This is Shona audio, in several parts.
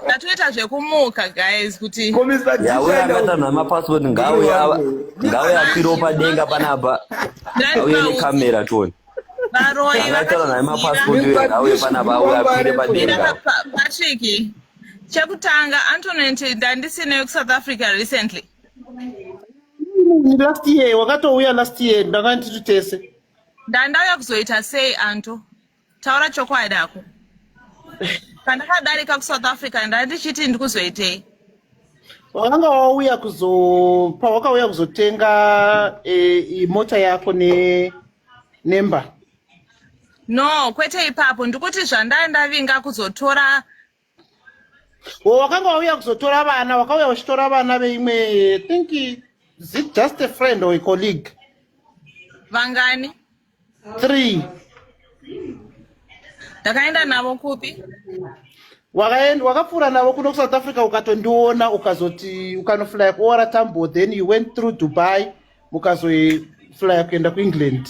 tatoita zvekumuka guys kuti yauye akaita nhama passport ngauye ngauye apiro padenga panapa auye nekamera toni akaita nhama passport ngauye panapa auye apire padenga patrick chekutanga antonet ndandisineyo kusouth africa recently last year wakatouya last year ndakanditi tese ndandauya kuzoita sei anto taura chokwadi ako pandakadarika kusouth africa ndai ndichiti ndikuzoitei wakanga wauya kuzo pawakauya kuzotenga e, mota yako ne nemba no kwete ipapo ndikuti zvandai ndavinga kuzotora wo wakanga wauya kuzotora vana wakauya uchitora vana veimwe think is it just a friend or a colleague vangani three ndakaenda navo kupi wakaenda wakapfuura navo kuno kusouth africa ukatondiona ukazoti ukanoflya kuora tambo then you went through dubai mukazoflya kuenda kuengland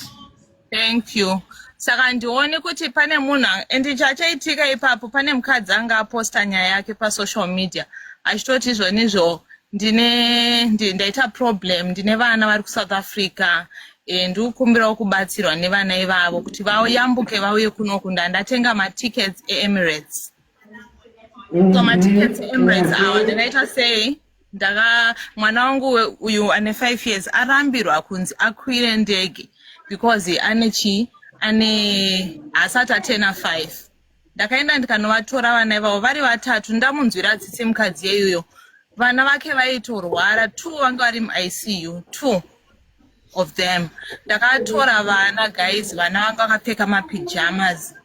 thank you saka ndione kuti pane munhu and chachaitika ipapo pane mukadzi anga aposta nyaya yake pasocial media achitoti izvonizvo ndine ndi- ndaita problem ndine vana vari kusouth africa eh, ndiri kukumbirawo kubatsirwa nevana ivavo kuti vayambuke vauye kunoku ndandatenga matickets eemirates so matickets eemirates awa ndakaita sei ndaka mwana wangu uyu ane five years arambirwa kunzi akwire ndege because ane chii ane haasati atena five ndakaenda ndikanovatora vana ivavo vari vatatu ndamunzwira tsitsi mukadzi yeyuyo vana vake vaitorwara two vanga vari muicu two of them ndakatora vana guys vana vanga vakapfeka mapijamas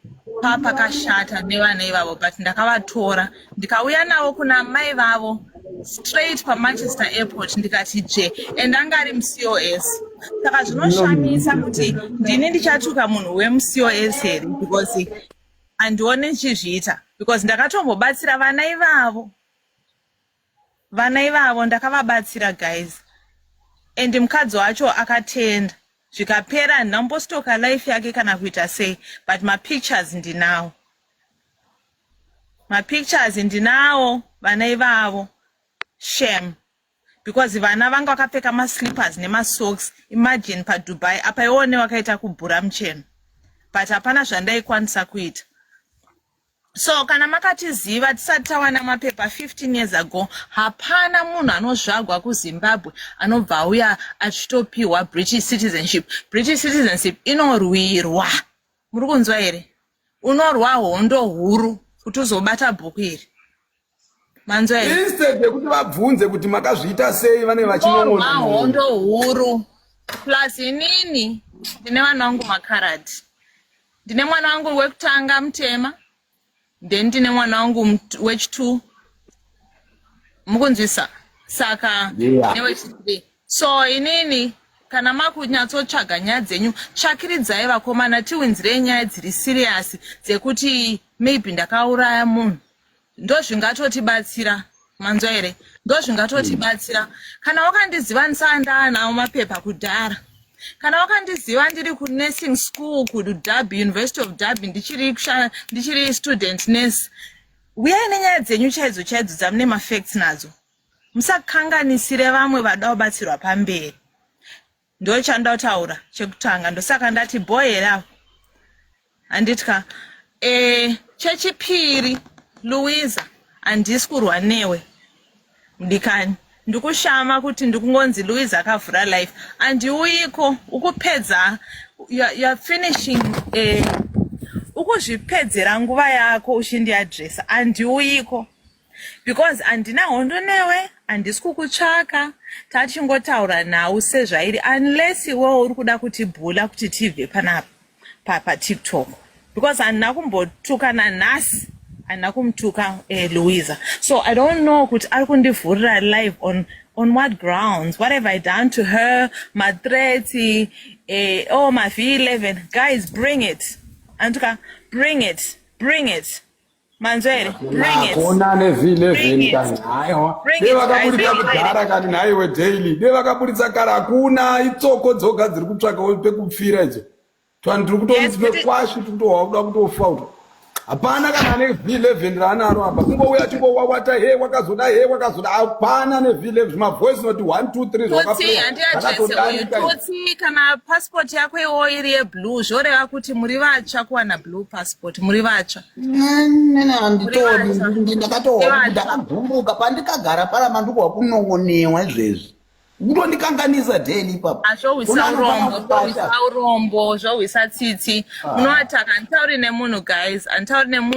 pa pakashata nevana ivavo but ndakavatora ndikauya navo kuna mai vavo straight pamanchester airport ndikati je and anga ari mucos saka zvinoshamisa kuti ndini ndichatuka munhu wemucos here because handione ndichizviita because ndakatombobatsira vana ivavo Vana ivavo ndakavabatsira guys and mukadzi wacho akatenda zvikapera handina kumbostoka life yake kana kuita sei but mapictures ndinawo mapictures ndinawo vana ivavo shame because vana vanga vakapfeka maslippers nemasocks imagine padubai apa iwone wakaita kubhura mucheno but hapana zvandaikwanisa kuita so kana makatiziva tisati tawana mapepa 15 years ago hapana munhu anozvagwa kuzimbabwe anobva auya achitopiwa british citizenship british citizenship inorwirwa muri kunzwa here unorwa hondo huru kuti uzobata bhuku iri instead yekuti vabvunze kuti makazviita sei vane vachinon'ona hondo huru plus inini ndine vana vangu makarati ndine mwana wangu wekutanga mutema then ndine mwana wangu wechitwo mukunzwisa saka yeah. newechithree so inini kana makunyatsotsvaga nyaya dzenyu tsvakiridzai vakomana tiwinzirei nyaya dziri siriyasi dzekuti maybe ndakauraya munhu ndozvingatotibatsira manzwa here ndozvingatotibatsira mm. kana wakandiziva ndisaa ndaanawo mapepa kudhara kana wakandiziva ndiri kunursing school kudub university of dub ndichiri ndichiri student nurse uyai nenyaya dzenyu chaidzo chaidzo dzamune mafacts nadzo musakanganisire vamwe vada kubatsirwa pamberi ndochandotaura chekutanga ndosaka ndati bho here avo handitya e, chechipiri louisa handisi kurwa newe mudikani ndikushama kuti ndikungonzi louisa akavhura life andiuyiko ukupedza youare finishing e, ukuzvipedzera nguva yako uchindiadresa andiuyiko because handina hondo newe handisi kukutsvaka tachingotaura nhau sezvairi unless iwewo uri kuda kuti bhula kuti tibve panapa papatiktok because handina kumbotuka nanhasi handina kumutuka eh, louisa so i don't know kuti ari kundivhurira live on on what grounds what have i done to her matreti eh, oh mav 11 guys bring it anduka bring it bring it manzwa here kona nevhini kani haiwa dei vakaburitsa kudhara kani nhaiwe daily dei vakaburitsa kara hakuna itsoko dzoga dziri kutsvaka pekupfira idzo tani tiri kutomusi pekwashi tiri kutohwa kuda kutofa uto hapana kana ane v11 raanaro apa kungouya chingowawata he wakazoda he wakazoda hapana ne v11 mavoice noti 1 2 3 zvakatodaikatsi kana passport yako iwo iri yeblue zvoreva kuti muri vatsva kuwana blue passport muri vatsva nene handitodi ndi- ndakatohwa Kune kuti vanhu. ndakagumbuka pandikagara paya mandikuhwa kunon'onewa izvezvi kutondikanganisa deni ipapo azvohwisa Kuna anobaya urombo mupata. zvohwisa urombo zvohwisa tsitsi munoataka handitauri nemunhu guys handitauri nemunhu